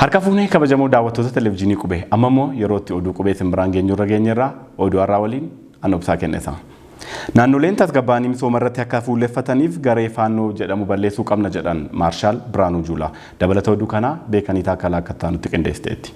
Harka fuunee kabajamoo daawwattoota televizyiinii qubee amma immoo yeroo itti oduu qubee isin biraan geenyu irra geenyerraa oduu har'aa waliin an obsaa kennisa. Naannoleen tasgabbaa'anii misooma irratti akka fuulleffataniif garee faannoo jedhamu balleessuu qabna jedhan Maarshaal Biraanuu Juulaa. Dabalata oduu kanaa beekanii taakkalaa akka ta'an nutti qindeessiteetti.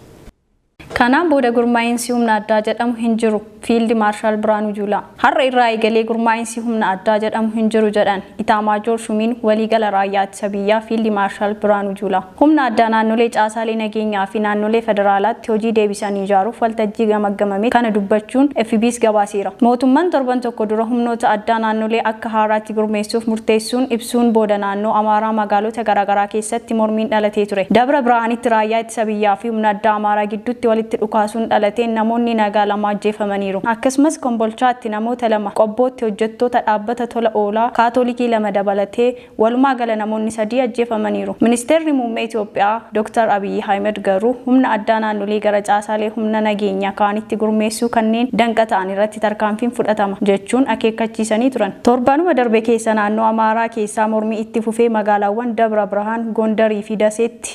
Kanaan booda gurmaa'insi humna addaa jedhamu hin jiru, Fiildi Maarshaal Birhaanuu Juulaa. Har'a irraa eegalee gurmaa'insi humna addaa jedhamu hin jiru jedhan Itaamaajoor Shuumiin Waliigala Raayyaa Ittisa Biyyaa Fiildi Maarshaal Birhaanuu Juulaa. Humna addaa naannolee caasaalee nageenyaa fi naannolee federaalaatti hojii deebisanii ijaaruuf waltajjii gamaggamametti kana dubbachuun FBC gabaaseera. Mootumman torban tokko dura humnoota addaa naannolee akka haaraatti gurmeessuuf murteessuun ibsuun booda naannoo Amaaraa magaalota garaagaraa keessatti mormiin dhalatee ture. Dabra Birahaanitti Raayyaa Ittisa Biyyaa fi. humna addaa Amaaraa gidduutti walitti dhukaasuun dhalateen namoonni nagaa lama ajjeefamaniiru. Akkasumas Kombolchaatti namoota lama, Qobbootti hojjettoota dhaabbata tola oolaa Kaatolikii lama dabalatee walumaa gala namoonni sadii ajjeefamaniiru. Ministeerri Muummee Itoophiyaa Dr. Abiyyi Ahimad garuu humna addaa naannolee gara caasaalee humna nageenya kaanitti gurmeessuu kanneen danqa ta'an irratti tarkaanfiin fudhatama jechuun akeekkachiisanii turan. Torbanuma darbe keessa naannoo Amaaraa keessaa mormii itti fufee magaalaawwan Dabra Birhaan, Gondar fi Daseetti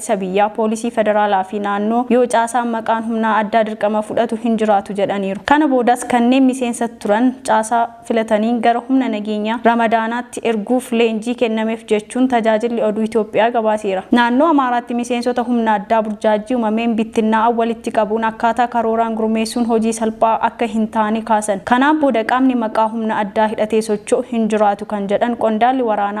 ittisa biyyaa, poolisii federaalaa fi naannoo yoo caasaan maqaan humnaa addaa dirqama fudhatu hin jiraatu jedhaniiru. Kana boodas kanneen miseensa turan caasaa filataniin gara humna nageenyaa ramadaanaatti erguuf leenjii kennameef jechuun tajaajilli oduu Itoophiyaa gabaaseera. Naannoo Amaaraatti miseensota humna addaa burjaajjii umameen bittinnaa'an walitti qabuun akkaataa karooraan gurmeessuun hojii salphaa akka hin taane kaasan. Kanaan booda qaamni maqaa humna addaa hidhatee socho'u hin jiraatu kan jedhan qondaalli waraanaa,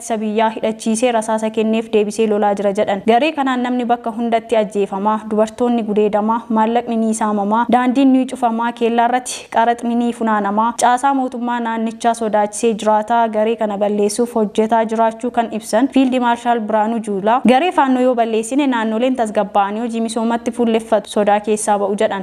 ittisa biyyaa hidhachiisee rasaasa kenneef deebisee lolaa jira jedhan. Garee kanaan namni bakka hundatti ajjeefamaa, dubartoonni gudeedamaa, maallaqni ni saamamaa, daandiin ni cufamaa, keellaarrati qaraxni ni funaanamaa, caasaa mootummaa naannichaa sodaachisee jiraataa garee kana balleessuuf hojjetaa jiraachuu kan ibsan Fiildi Maarshaal Birhaanuu Juulaa, garee Faannoo yoo balleessine naannoleen tasgabbaa'anii hojii misoomatti fuulleffatu, sodaa keessaa ba'u jedhan.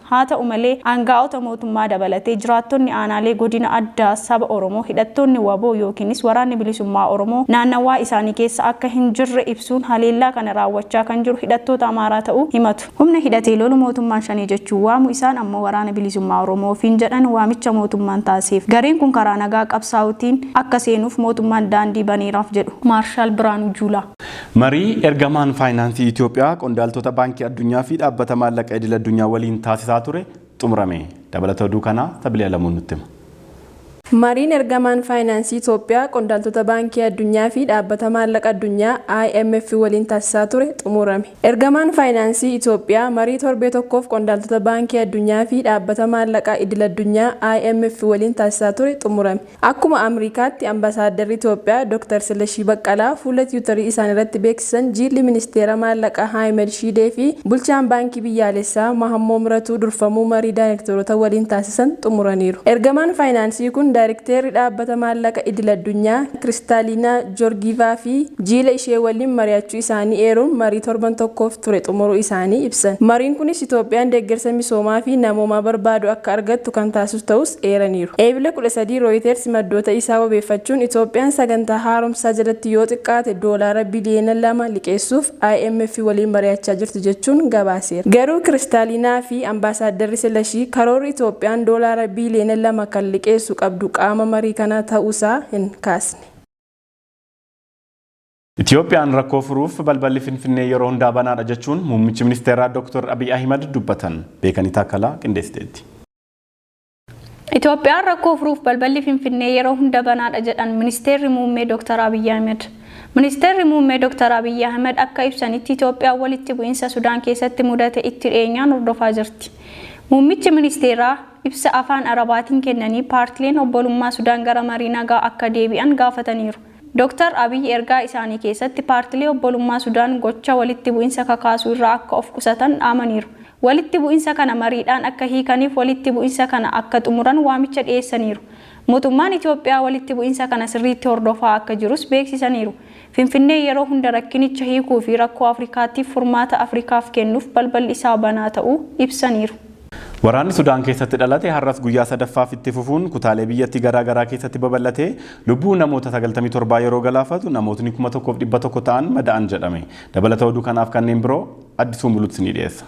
Haata'u malee, aanga'oota mootummaa dabalatee jiraattonni aanaalee godina addaa saba Oromoo hidhattoonni wbo yookiinis Waraanni Bilisummaa Oromoo naannawaa isaanii keessa akka hin jirre ibsuun haleellaa kana raawwachaa kan jiru hidhattoota Amaaraa ta'uu himatu. Humna hidhatee lolu mootummaan Shanee jechuun waamu isaan ammoo Waraana Bilisummaa Oromoo ofiin jedhan waamicha mootummaan taasiseef gareen kun karaa nagaa qabsaa'uutiin akka seenuuf mootummaan daandii baneeraaf jedhu Maarshaal Birhaanuu Juulaa. Marii ergamaan faayinaansii Itiyoophiyaa qondaaltota Baankii Addunyaa fi Dhaabbata Maallaqa Idil Addunyaa waliin taasisaa ture xumurame. Dabalata oduu kanaa Sabilii Alamuu nutti hima. Mariin ergamaan faayinaansii Itiyoophiyaa qondaaltota Baankii Addunyaa fi Dhaabbata Maallaqa Addunyaa, IMF, waliin taasisaa ture xumurame. Ergamaan faayinaansii Itiyoophiyaa marii torbee tokkoof qondaaltota Baankii Addunyaa fi Dhaabbata Maallaqa Idil Addunyaa, IMF, waliin taasisaa ture xumurame. Akkuma Amriikaatti Ambasaadarri Itoophiyaa Dr. Silashii Baqqalaa fuula Tiwutarii isaaniirratti beeksisan Jiilli Ministeera Maallaqaa Haayimed Shiidee fi Bulchaan Baankii Biyyaalessaa Mahammoo Miratuu durfamuu marii daayrekteerota waliin taasisan xumuraniiru. Ergamaan faayinaansii kun Daayrekteerri Dhaabbata Maallaqa Idil-addunyaa Kiristaaliinaa Joorgiivaa fi jiila ishee waliin mari'achuu isaanii eeruun marii torban tokkoof ture xumuruu isaanii ibsan. Mariin kunis Itoophiyaan deeggarsa misoomaa fi namoomaa barbaadu akka argattu kan taasisu ta'uus eeraniiru. Eebila 13 Rooyiteersi maddoota isaa wabeeffachuun Itoophiyaan sagantaa haaromsaa jalatti yoo xiqqaate doolaara biliyeena 2 liqeessuuf IMF waliin mari'achaa jirti jechuun gabaaseera. Garuu Kiristaaliinaa fi Ambaasaaddarri Silashii karoorri Itoophiyaan doolaara biliyeena 2 kan liqeessu qabdu qaama marii kanaa ta'uusaa hin kaasne. Itiyoophiyaan rakkoo furuuf balballi Finfinnee yeroo hundaa banaadha jechuun muummichi ministeeraa Dooktar Abiy Ahimad dubbatan. Beekanii Taakkalaa qindeessiteetti. Itiyoophiyaan rakkoo furuuf balballi Finfinnee yeroo hunda banaadha jedhan Ministeerri Muummee Dooktar Abiy Ahimad. Ministeerri Muummee Dooktar Abiy Ahimad akka ibsanitti Itiyoophiyaan walitti bu'iinsa Sudaan keessatti mudate itti dhiyeenyaan hordofaa jirti. Muummichi ministeeraa. Ibsa Afaan Arabaatiin kennanii paartileen obbolummaa Sudaan gara marii nagaa akka deebi'an gaafataniiru. Dr. Abiy ergaa isaanii keessatti paartilee obbolummaa Sudaan gocha walitti bu'insa kakaasu irraa akka of qusatan dhaamaniiru. Walitti bu'insa kana mariidhaan akka hiikaniif walitti bu'insa kana akka xumuran waamicha dhiyeessaniiru. Mootummaan Itoophiyaa walitti bu'insa kana sirriitti hordofaa akka jirus beeksisaniiru. Finfinnee yeroo hunda rakkinicha hiikuu fi rakkoo Afrikaatiif furmaata Afrikaaf kennuuf balballi isaa banaa ta'uu ibsaniiru. Waraanni Sudaan keessatti dhalate har'as guyyaa sadaffaaf itti fufuun kutaalee biyyattii garaa garaa keessatti babal'atee lubbuu namoota 97 yeroo galaafatu namootni 1,100 ta'an mada'an jedhame. Dabalata oduu kanaaf kanneen biroo Addisuu Muluutu isinii dhiyeessa.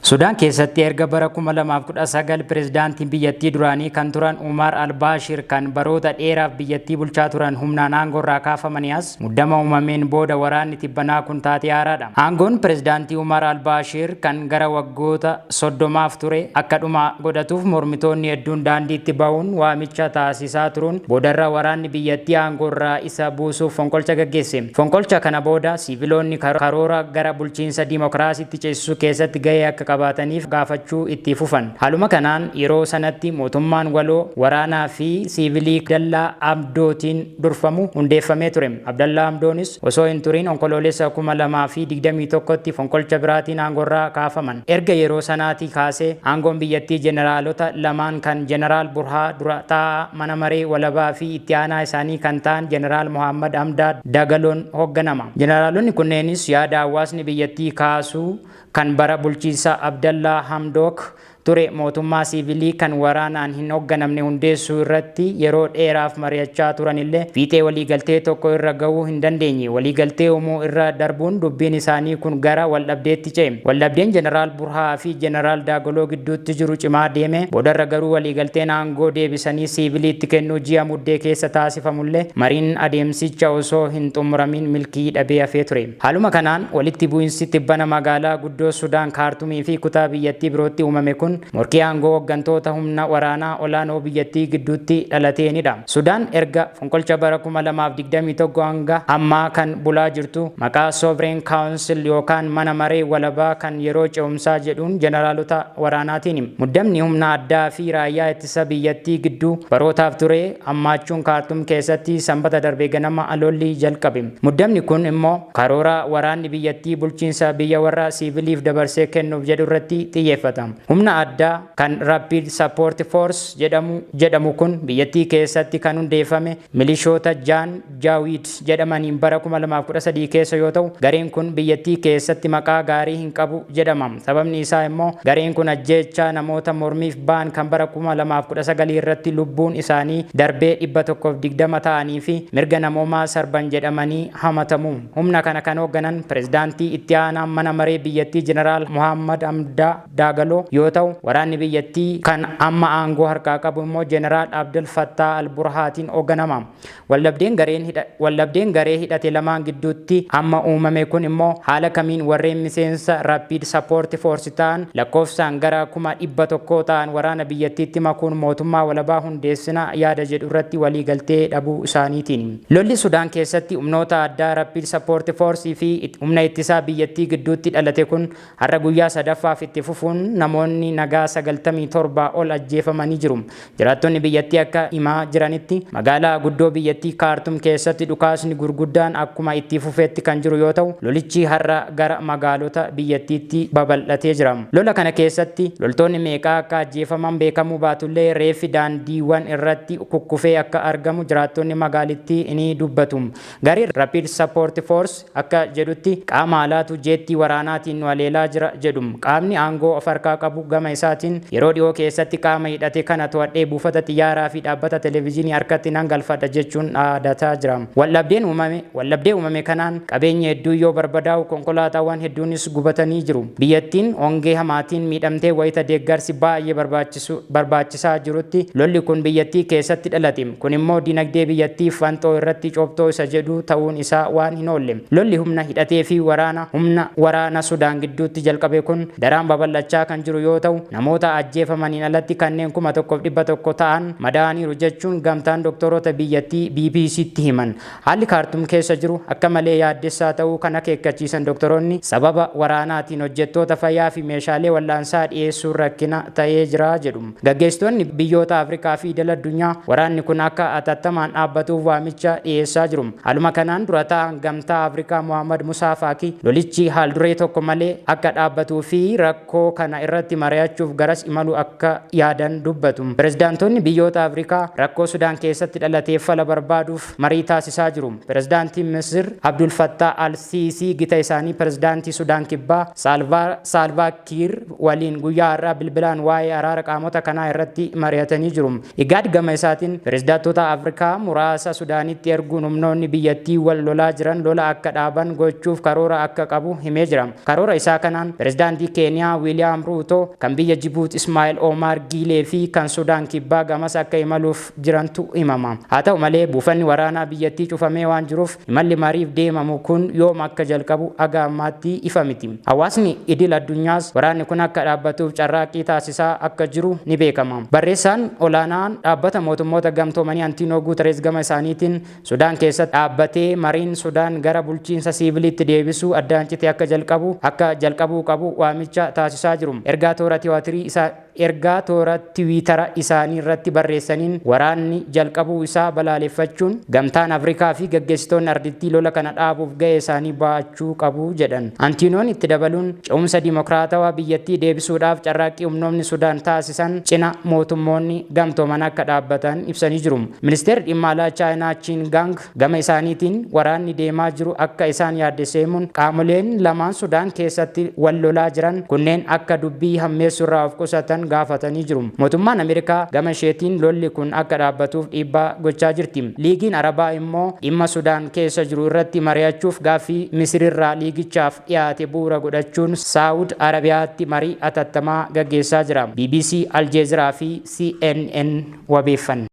Sudaan keessatti erga bara 2019 pirezidaantiin biyyattii duraanii kan turan Umaar Albaashir kan baroota dheeraaf biyyattii bulchaa turan humnaan aangoorraa kaafamanii as muddama uumameen booda waraanni tibbanaa kun taatee haaraadha. Aangoon pirezidaantii Umaar Albaashir kan gara waggoota 30f ture akka dhuma godhatuuf mormitoonni hedduun daandiitti bahuun waamicha taasisaa turuun boodarra waraanni biyyattii aangoorraa keessa buusuuf fonqolcha gaggeesse. Fonqolcha kana booda siiviloonni karoora gara bulchiinsa dimokiraasiitti ceesisuu keessatti gahee akka qabaataniif gaafachuu itti fufan. Haaluma kanaan yeroo sanatti mootummaan waloo waraanaa fi siivilii Abdallaa Hamdootiin durfamu hundeeffamee ture. Abdallaa Hamdoonis osoo hin turin Onkoloolessa 2021tti fonqolcha biraatiin aangorraa kaafaman. Erga yeroo sanaatii kaasee aangoon biyyattii jeneraalota lamaan kan Jeneraal Burhaa dura taa'aa mana maree walabaa fi itti aanaa isaanii kan ta'an Jeneraal Mohaammad Hamdaad Dagaloon hogganama. Jeneraalonni kunneenis yaada hawaasni biyyattii kaasu kan bara bulchiinsa Abdallaa Hamdook ture mootummaa siivilii kan waraanaan hin hogganamne hundeessuu irratti yeroo dheeraaf mari'achaa turanillee fiixee waliigaltee tokko irra gahuu hin dandeenye. Waliigaltee uumuu irra darbuun dubbiin isaanii kun gara waldhabdeetti ce'e. Waldhabdeen Jeneraal Furhaa fi Jeneraal Daagoloo gidduutti jiru cimaa deeme, boodarra garuu waliigalteen aangoo deebisanii siiviliitti kennuu ji'a Muddee keessa taasifamullee mariin adeemsicha osoo hin xumuramiin milkii dhabee hafee ture. Haaluma kanaan, walitti bu'insi tibbana magaalaa guddoo Sudaan Kaartumii fi kutaa biyyattii birootti uumame kun morkii aangoo hoggantoota humna waraanaa olaanoo biyyattii gidduutti dhalateenidha. Sudaan erga. Fonqolcha bara 2021 hanga ammaa kan bulaa jirtu maqaa Sovereign Council yookaan Mana Maree Walabaa kan Yeroo Ce'umsaa jedhuun Jeneraalota waraanaatiini. Muddamni humna addaa fi raayyaa ittisa biyyattii gidduu barootaaf ture hammaachuun Kaartum keessatti Sambata darbe ganama lolli jalqabe. Muddamni kun immoo karoora waraanni biyyattii bulchiinsa biyya warra siiviiliif dabarsee kennuuf jedhu irratti xiyyeeffata. Humna addaa. Kan Rapid Support Force jedhamu jedhamu kun biyyattii keessatti kan hundeeffame milishoota Jaan Jaawiid jedhamaniin bara 2013 keessa yoo ta'u, gareen kun biyyattii keessatti maqaa gaarii hin qabu jedhama. Sababni isaa immoo gareen kun ajjeechaa namoota mormiif ba'an kan bara 2019 irratti lubbuun isaanii darbee 120 ta'anii fi mirga namoomaa sarban jedhamanii hamatamu. Humna kana kan hoogganan pirezidaantii itti aanaa mana maree biyyattii Jeneraal Mohaammad Hamdaa. Daagaloo, yoo ta'u, waraanni biyyattii kan amma aangoo harkaa qabu immoo Jeneraal Abdel Fattaah al-Burhaatiin hogganama. Waldhabdeen gareen hidha Waldhabdeen garee hidhate lamaan gidduutti amma uumame kun immoo haala kamiin warreen miseensa Rapid Support Force ta'an lakkoofsaan gara 100,000 ta'an waraana biyyattiitti makuun mootummaa walabaa hundeessina yaada jedhu irratti waliigaltee dhabuu isaaniitiin. Lolli Sudaan keessatti humnoota addaa Rapid Support Force fi humna ittisaa biyyattii gidduutti dhalate kun Har'a guyyaa sadaffaaf itti fufuun namoonni nagaa 97 ol ajjeefamanii jiru. Jiraattonni biyyattii akka himaa jiranitti, magaalaa guddoo biyyattii Kaartum keessatti dhukaasni gurguddaan akkuma itti fufeetti kan jiru yoo ta'u, lolichi har'a gara magaalota biyyattiitti babal'atee jira. Lola kana keessatti loltoonni meeqa akka ajjeefaman beekamuu baatullee reeffi daandiiwwan irratti kukkufee akka argamu jiraattonni magaalittii ni dubbatu. Gareen Rapid Support Force akka jedhutti qaama alaatu jeettii waraanaatiin nu haleelaa jira jedhu. Qaamni aangoo of harkaa qabu gama isaatiin yeroo dhihoo keessatti qaama hidhate kana to'adhee buufata xiyyaaraa fi dhaabbata televizyinii harkatti nan galfadha jechuun dhaadataa jira. Waldhabdeen uumame Waldhabdee uumame kanaan qabeenyi hedduun yoo barbadaa'u konkolaataawwan hedduunis gubatanii jiru. Biyyattiin hongee hamaatiin miidhamtee wayita deeggarsi baay'ee barbaachisu barbaachisaa taasisaa jirutti, lolli kun biyyattii keessatti dhalate. Kun immoo dinagdee biyyattii fanxoo irratti coptoo isa jedhu ta'uun isaa waan hin oolle. Lolli humna hidhatee fi waraana humna waraana Sudaan gidduutti jalqabe kun daraan babal'achaa kan jiru yoo ta'u, namoota ajjeefamaniin alatti kanneen 1,100 ta'an madaa'aniiru jechuun gamtaan doktoorota biyyattii BBC'tti himan. Haalli Kaartum keessa jiru akka malee yaaddessaa ta'uu kan akeekkachiisan doktoroonni, sababa waraanaatiin hojjettoota fayyaa fi meeshaalee wal'aansaa dhiyeessuun rakkina ta'ee jira jedhu. Gaggeessitoonni biyyoota Afrikaa fi idil addunyaa waraanni kun akka atattamaan dhaabbatuuf waamicha dhiyeessaa jiru. Haaluma kanaan dura taa'aan Gamtaa Afrikaa Mohaammad Musaa Faakii lolichi haal duree tokko malee akka dhaabbatuu fi rakkoo rakkoo kana irratti mari'achuuf garas imaluu akka yaadan dubbatu. Pirezidaantoonni biyyoota Afrikaa rakkoo Sudaan keessatti dhalateef fala barbaaduuf marii taasisaa jiru. Pirezidaantiin Misir Abdul Fattaah al-Siisii gita isaanii Pirezidaantii Sudaan Kibbaa Saalvaa Saalvaa Kiir waliin guyyaa har'aa bilbilaan waa'ee araara qaamota kanaa irratti mari'atanii jiru. Igaad gama isaatiin pirezidaatota Afrikaa muraasa Sudaanitti erguun humnoonni biyyattii wal lolaa jiran lola akka dhaaban gochuuf karoora akka qabu himee jira. Karoora isaa kanaan pirezidaantii Keeniyaa Wiiliyaam Ruutoo, kan biyya Jibuut Ismaa'il Oomaar Giilee fi kan Sudaan Kibbaa gamas akka imaluuf jirantu himama. Haa ta'u malee buufanni waraanaa biyyattii cufamee waan jiruuf Imalli mariif deemamu kun yoom akka jalqabu haga ammaatti ifa miti. Hawaasni idil addunyaas waraanni kun akka dhaabbatuuf carraaqqii taasisaa akka jiru ni beekama. Barreessaan olaanaan Dhaabbata Mootummoota Gamtoomanii Antiinoo Guutareez gama isaaniitiin Sudaan keessatti dhaabbatee mariin Sudaan gara bulchiinsa siiviiliitti deebisuu addaan cite akka jalqabu akka jalqabuu qabu waamicha taasisaa jiru. Ergaa toora Tiwaatirii isaa. Ergaa toora tiwiitara isaanii irratti barreessaniin waraanni jalqabuu isaa balaaleffachuun, Gamtaan Afrikaa fi gaggeessitoonni ardittii lola kana dhaabuuf ga'ee isaanii ba'achuu qabu jedhan. Antiinoon itti dabaluun, ce'umsa dimokraatawaa biyyattii deebisuudhaaf carraaqqii humnoomni Sudaan taasisan cina mootummoonni gamtooman akka dhaabbatan ibsanii jiru. Ministeerri Dhimma Alaa Chaayinaa Chiin Gaang, Gama isaaniitiin waraanni deemaa jiru akka isaan yaaddesse himuun, qaamoleen lamaan Sudaan keessatti wal lolaa jiran kunneen akka dubbii hammeessuurraa of qusatan gaafatanii jiru. Mootummaan Ameerikaa gama isheetiin lolli kun akka dhaabbatuuf dhiibbaa gochaa jirti. Liigiin Arabaa immoo dhimma Sudaan keessa jiru irratti mari'achuuf gaaffii Misirirraa liigichaaf dhiyaate bu'uura godhachuun Saa'ud Arabiyaatti marii atattamaa gaggeessaa jira. Bbc, Aljeeziraa fi CNN wabeeffanne.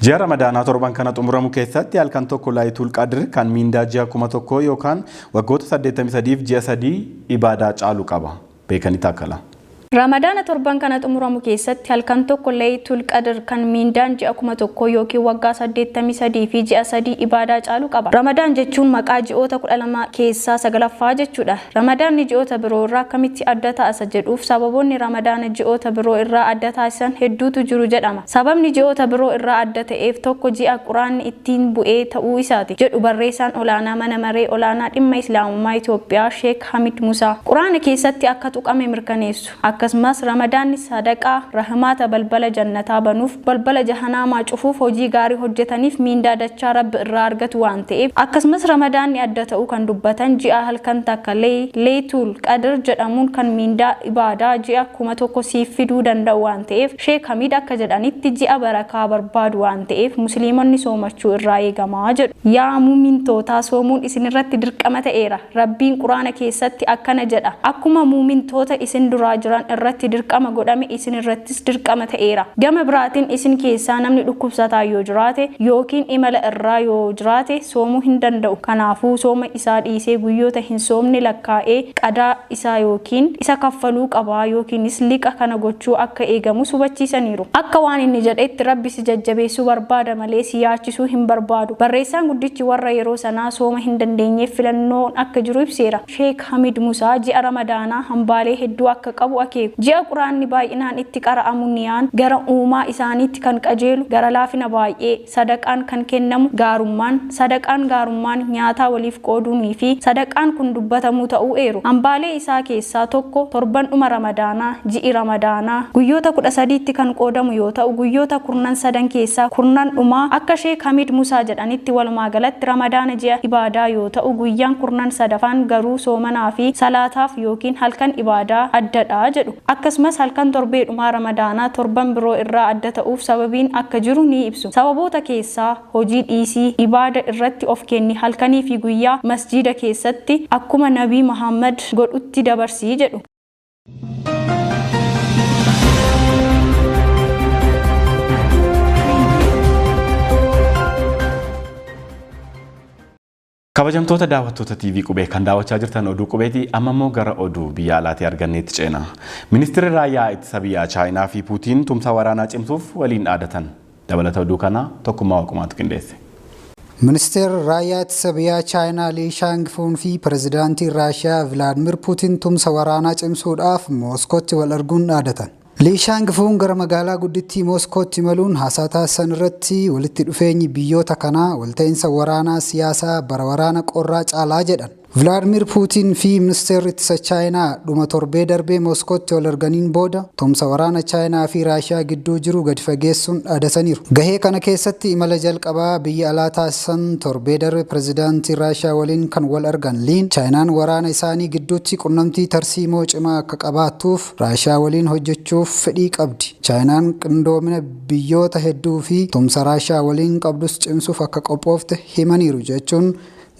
Ji'a Ramadaanaa torban kana xumuramu keessatti halkan tokko Laayituul Qadr kan miindaa ji'a kuma tokkoo yookaan waggoota 83f ji'a sadii ibaadaa caalu qaba. Beekanii Taakkalaa. Ramadaana torban kana xumuramu keessatti halkan tokko Layitul Qadr kan miindaan ji'a kuma tokkoo yookiin waggaa 83 fi ji'a sadii ibaadaa caalu qaba. Ramadaan jechuun maqaa ji'oota 12 keessaa 9ffaa jechuudha. Ramadaanni ji'oota biroo irraa akkamitti adda ta'a isa jedhuuf sababoonni Ramadaana ji'oota biroo irraa adda taasisan hedduutu jiru jedhama. Sababni ji'oota biroo irraa adda ta'eef tokko ji'a Qur'aanni ittiin bu'ee ta'uu isaati jedhu barreessaan olaanaa Mana Maree Olaanaa Dhimma Islaamummaa Itoophiyaa Sheek Hamid Musaa. Qur'aana keessatti akka tuqame mirkaneessu. Akkasumas Ramadaanni sadaqaa, rahmaata, balbala jannataa banuuf, balbala jahanaamaa cufuuf, hojii gaarii hojjetaniif miindaa dachaa Rabbi irraa argatu waan ta'eef. Akkasumas Ramadaanni adda ta'uu kan dubbatan ji'a halkan takka lay, Laytul, Qadr jedhamuun kan miindaa, ibaadaa, ji'a kuma tokko siif fiduu danda'u waan ta'eef. Sheek Hamiid akka jedhanitti ji'a barakaa barbaadu waan ta'eef musliimonni soomachuu irraa eegama jedhu. Yaa mu'mintootaa soomuun isin irratti dirqama ta'eera. Rabbiin Qur'aana keessatti akkana jedha, Akkuma mu'mintoota isin duraa jiran irratti dirqama godhame isin irrattis dirqama ta'eera. Gama biraatin isin keessaa namni dhukkubsataan yoo jiraate ykn imala irraa yoo jiraate soomuu hin danda'u. Kanaafuu sooma isaa dhiisee guyyoota hin soomne lakkaa'ee qadaa isaa ykn isa kaffaluu qaba yknis liqa kana gochuu akka eegamus hubachiisaniiru. Akka waan inni jedhetti Rabbi si jajjabeessuu barbaada malee si yaachisuu hin barbaadu. Barreessaan guddichi warra yeroo sanaa sooma hin dandeenyeef filannoon akka jiru ibseera. Sheek Hamid Musaa ji'a Ramadaanaa hambaalee hedduu akka qabu akeeku. Ji'a Qur'aanni baay'inaan itti qara'amu niyaan gara Uumaa isaaniitti kan qajeelu, gara laafina baay'ee, sadaqaan kan kennamu, gaarummaan, sadaqaan gaarummaan, nyaataa waliif qooduunii fi sadaqaan kun dubbatamuu ta'uu eeru. Hambaalee isaa keessaa tokko torban dhuma Ramadaanaa, ji'i Ramadaanaa guyyoota 13tti kan qoodamu yoo ta'u guyyoota kurnan sadan keessaa kurnan dhumaa akka Sheek Hamiid Musaa jedhanitti walumaa galatti Ramadaana ji'a ibaadaa yoo ta'u guyyaan kurnan sadafaan garuu soomanaa fi salaataaf ykn halkan ibaadaa adda dha jedhu. Akkasumas halkan torbee dhumaa Ramadaanaa torban biroo irraa adda ta'uuf sababiin akka jiru ni ibsu. Sababoota keessaa. hojii dhiisii, ibaada irratti of kenni, halkanii fi guyyaa masjiida keessatti akkuma Nabii Mahaammad godhutti dabarsi jedhu. Kabajamtoota daawwattoota TV Qubee kan daawwachaa jirtan oduu qubeeti amma immoo gara oduu biyya alaatii arganneetti ceena. Ministirri Raayyaa Ittisa Biyyaa Chaayinaa fi Puutiin tumsa waraanaa cimsuuf waliin dhaadatan. Dabalata oduu kanaa Tokkummaa Waqumaatu qindeesse. Ministeerri Raayyaa Ittisa Biyyaa Chaayinaa Lii Shaangifuun fi Pirezidaantiin Raashiyaa Vilaadmir Puutiin tumsa waraanaa cimsuudhaaf Mooskootti wal arguun dhaadatan. Lii Shaang Fuun gara magaalaa guddittii Mooskootti imaluun haasaa taasisan irratti walitti dhufeenyi biyyoota kanaa walta'iinsa waraanaa siyaasaa bara waraana qorraa caalaa jedhan. Vilaadmiir Puutiin fi Ministeerri Ittisa Chaayinaa dhuma torbee darbee Mooskootti wal arganiin booda tumsa waraana Chaayinaa fi Raashiyaa gidduu jiru gadi fageessuun dhaadataniiru. Gahee kana keessatti imala jalqabaa biyya alaa taasisan torbee darbe pirezidaantii Raashiyaa waliin kan wal argan Liin, Chaayinaan waraana isaanii gidduutti qunnamtii tarsiimoo cimaa akka qabaattuuf, Raashiyaa waliin hojjechuuf fedhii qabdi. Chaayinaan qindoomina biyyoota hedduu fi tumsa Raashiyaa waliin qabdus cimsuuf akka qophoofte himaniiru jechuun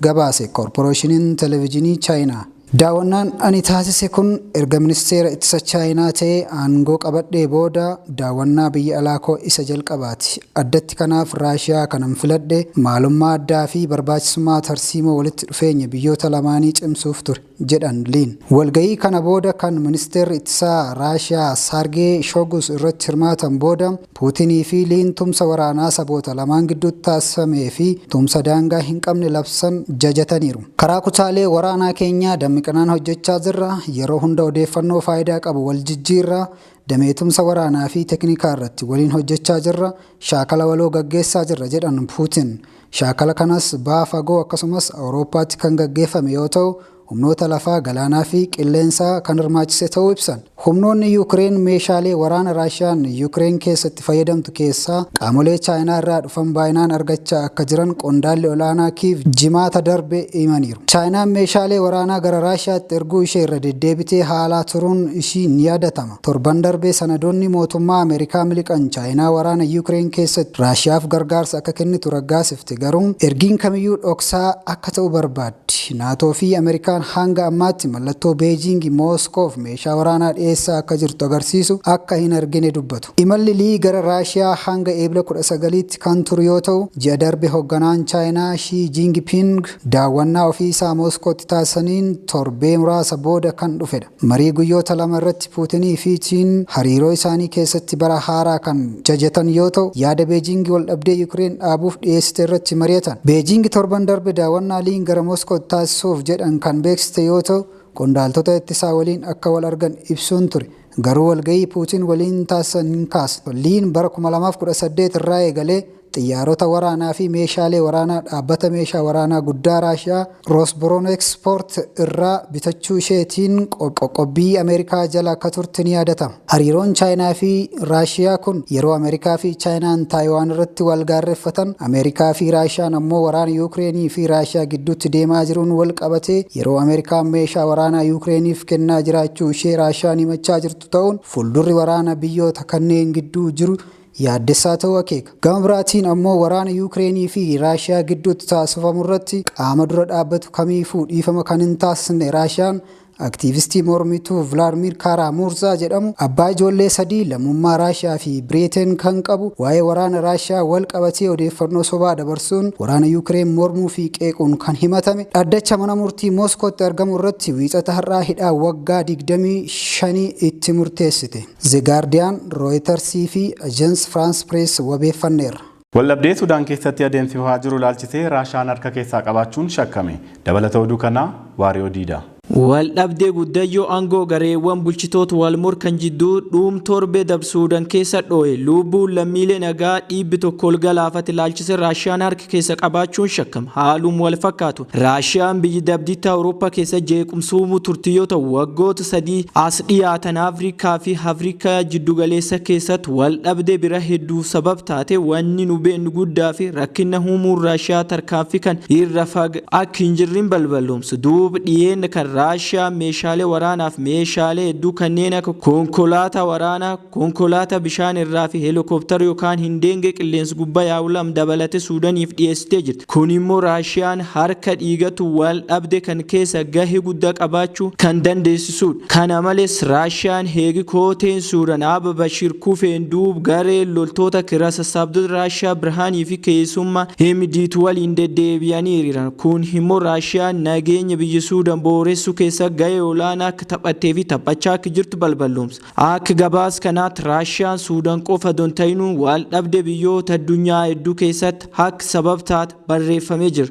gabaase Korporeeshiniin Televijinii Chaayinaa. Daawwannaan ani taasise kun erga Ministeera Ittisa Chaayinaa ta'ee aangoo qabadhee booda daawwannaa biyya alaa koo isa jalqabaati. Addatti kanaaf Raashiyaa kanan filadhe maalummaa addaa fi barbaachisummaa tarsiimoo walitti dhufeenya biyyoota lamaanii cimsuuf ture. jedhan Liin. Walga'ii kana booda kan Ministeerri Ittisaa Raashiyaa Saargee Shoogus irratti hirmaatan booda, Puutinii fi Liin tumsa waraanaa saboota lamaan gidduutti taasifamee fi tumsa daangaa hin qabne labsan jajataniiru. Karaa kutaalee waraanaa keenyaa dammiqinaan hojjechaa jirra, yeroo hunda odeeffannoo faayidaa qabu wal jijjiirra, damee tumsa waraanaa fi teknikaa irratti waliin hojjechaa jirra, shaakala waloo gaggeessaa jirra, jedhan Puutin. Shaakala kanas Baha Fagoo akkasumas Awurooppaatti kan gaggeeffame yoo ta'u, humnoota lafaa, galaanaafi qilleensaa kan hirmaachise ta'uu ibsan. Humnoonni Yuukireen meeshaalee waraana Raashiyaan Yuukireen keessa itti fayyadamtu keessaa qaamolee Chaayinaa irraa dhufan baayinaan argachaa akka jiran qondaalli ol'aanaa Kiiv Jimaata darbe himaniiru. Chaayinaan meeshaalee waraanaa gara Raashiyaatti erguu ishee irra deddeebitee haalaa turuun ishii ni yaadatama. Torban darbe sanadoonni mootummaa Ameerikaa miliqan Chaayinaa waraana Yuukireen keessatti Raashiyaaf gargaarsa akka kennitu raggaasifte garuu ergiin kamiyyuu dhoksaa akka ta'u barbaaddi. Naatoo fi Ameerikaan hanga ammaatti mallattoo Beejiingi Mooskoof meeshaa waraanaa dhiyeessaa akka jirtu agarsiisu akka hin argine dubbatu. Imalli Lii gara Raashiyaa hanga Eebla 19tti kan turu yoo ta'u, ji'a darbe hogganaan Chaayinaa Shii Jiingiping daawwannaa ofii isaa Mooskootti taasisaniin torbee muraasa booda kan dhufedha. Marii guyyoota lama irratti Puutinii fi Chiin hariiroo isaanii keessatti bara haaraa kan jajatan yoo ta'u, yaada Beejiingi waldhabdee Yukireen dhaabuuf dhiyeessite irratti mari'atan. Beejiingi torban darbe daawwannaa Liin gara Moskootti taasisuuf jedhan kan beeksiste yoo ta'u, qondaaltota ittisaa waliin akka wal argan ibsuun ture. Garuu walga'ii Puutiin waliin taasisan hin kaasne. Liin bara 2018 irraa eegalee Xiyyaarota waraanaa fi meeshaalee waraanaa dhaabbata meeshaa waraanaa guddaa Raashiyaa Rosbronexport irraa bitachuu isheetiin qoqqobbii Ameerikaa jala akka turte ni yaadatama. Hariiroon Chaayinaa fi Raashiyaa kun yeroo Ameerikaa fi Chaayinaan Taayiwaan irratti wal gaarreffatan, Ameerikaa fi Raashiyaan ammoo waraana Yuukireenii fi Raashiyaa gidduutti deemaa jiruun wal qabatee yeroo Ameerikaan meeshaa waraanaa Yuukireeniif kennaa jiraachuu ishee Raashiyaan himachaa jirtu ta'uun fuuldurri waraana biyyoota kanneen gidduu jiru yaaddessaa ta'uu akeeka. Gama biraatiin ammoo waraana Yuukireenii fi Raashiyaa gidduutti taasifamu irratti qaama dura dhaabbatu kamiifuu dhiifama kan hin taasisne Raashiyaan, aktiivistii mormituu Vilaadmiir Kaaraamurzaa jedhamu, abbaa ijoollee sadii, lammummaa Raashiyaa fi Biriiteen kan qabu, waa'ee waraana Raashiyaa wal qabatee odeeffannoo sobaa dabarsuun waraana Yuukireen mormuu fi qeequun kan himatame, dhaddacha mana murtii Mooskootti argamu irratti Wiixata har'aa hidhaa waggaa 25 itti murteessite. Ze Gaardiyaan, Rooyitarsii fi Ajans Firaans Pirees wabeeffanneerra. Waldhabdee Sudaan keessatti adeemsifamaa jiru ilaalchisee Raashaan harka keessaa qabaachuun shakkame. Dabalata oduu kanaa Waariyoo Diidaa. Waldhabdee guddayyoo angoo gareewwan bulchitoot wal morkan jidduu dhuum torbee dab Suudan keessa dhooye luubbuun lammiilee nagaa dhiibbi tokko ol galaafate ilaalchise Raashaan harka keessa qabaachuun shakkam haalum wal fakkaatun. Raashiyaan biyyi dabdiitti Awurooppaa keessa jeequmsa uumuu turte yoo ta'u, waggoota sadii as dhiyaatan Afrikaa fi Afrikaa jiddugaleessa keessatti waldhabdee bira hedduuf sabab taate. Wanni nu beeknu guddaa fi rakkinna uumuun Raashiyaa tarkaanfii kan irra fag akka hin jirrin balballoomsu. Duub dhiyeenna kan Raashiyaan meeshaalee waraanaaf meeshaalee hedduu kanneen akka konkolaataa waraanaa, Konkolaata bishaan irraa fi helikoptara yokaan hindeenge qilleensi gubba yaa'u lam dabalate Suudaniif dhiyeessitee jirti. Kun immoo Raashiyaan harka dhiigatu wal dhabde kan keessa gahe gudda qabaachu kan dandeessisuudha. Kana males Raashiyaan heegi kooteen Suudan Aaba Bashir kufeen duub gareen loltoota kira sassaabdota Raashiyaa Birhaanii fi keesumma Hemdiitu waliin deddeebiyanii hiriiran. Kun himmo Raashiyaan nageenya biyya Suudan booressu keessa gahee olaana akka taphatte fi taphachaa akk jirtu balballoomsa. Akk gabaas kanaat Raashiyaan Suudan qofa don tahinuu waal dhabde biyyoot addunyaa edduu keessatt hakk sabab taat barreeffamee jir.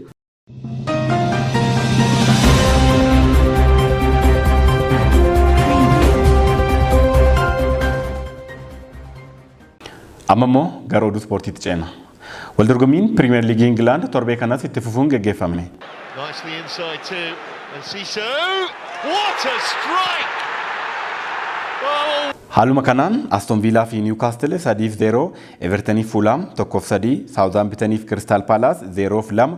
Amma immoo gara oduu ispoortiitti ceena. Waldorgommiin Piriimeer Liigii Ingilaand torbee kanas itti fufuun geggeeffamne. Nicely inside too, and Siso, what a strike! Oh, Haaluma kanaan Aston Viilaa fi Niwkaastil 3 fi 0, Evertaniif Fuulaam 1 fi 3, Saawuzaambitaniif Kiristaal Paalaas 0 fi 2,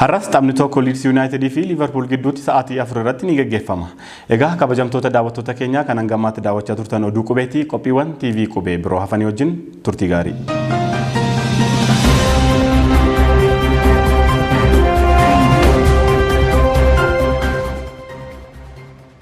Har'as taphni tokko Liids Yuunaayitidii fi Liivarpuul gidduutti sa'aatii afur irratti ni gaggeeffama. Egaa kabajamtoota daawwattoota keenyaa kan hanga ammaatti daawwachaa turtan oduu qubeetii qophiiwwan TV qubee biroo hafanii wajjin turtii gaarii.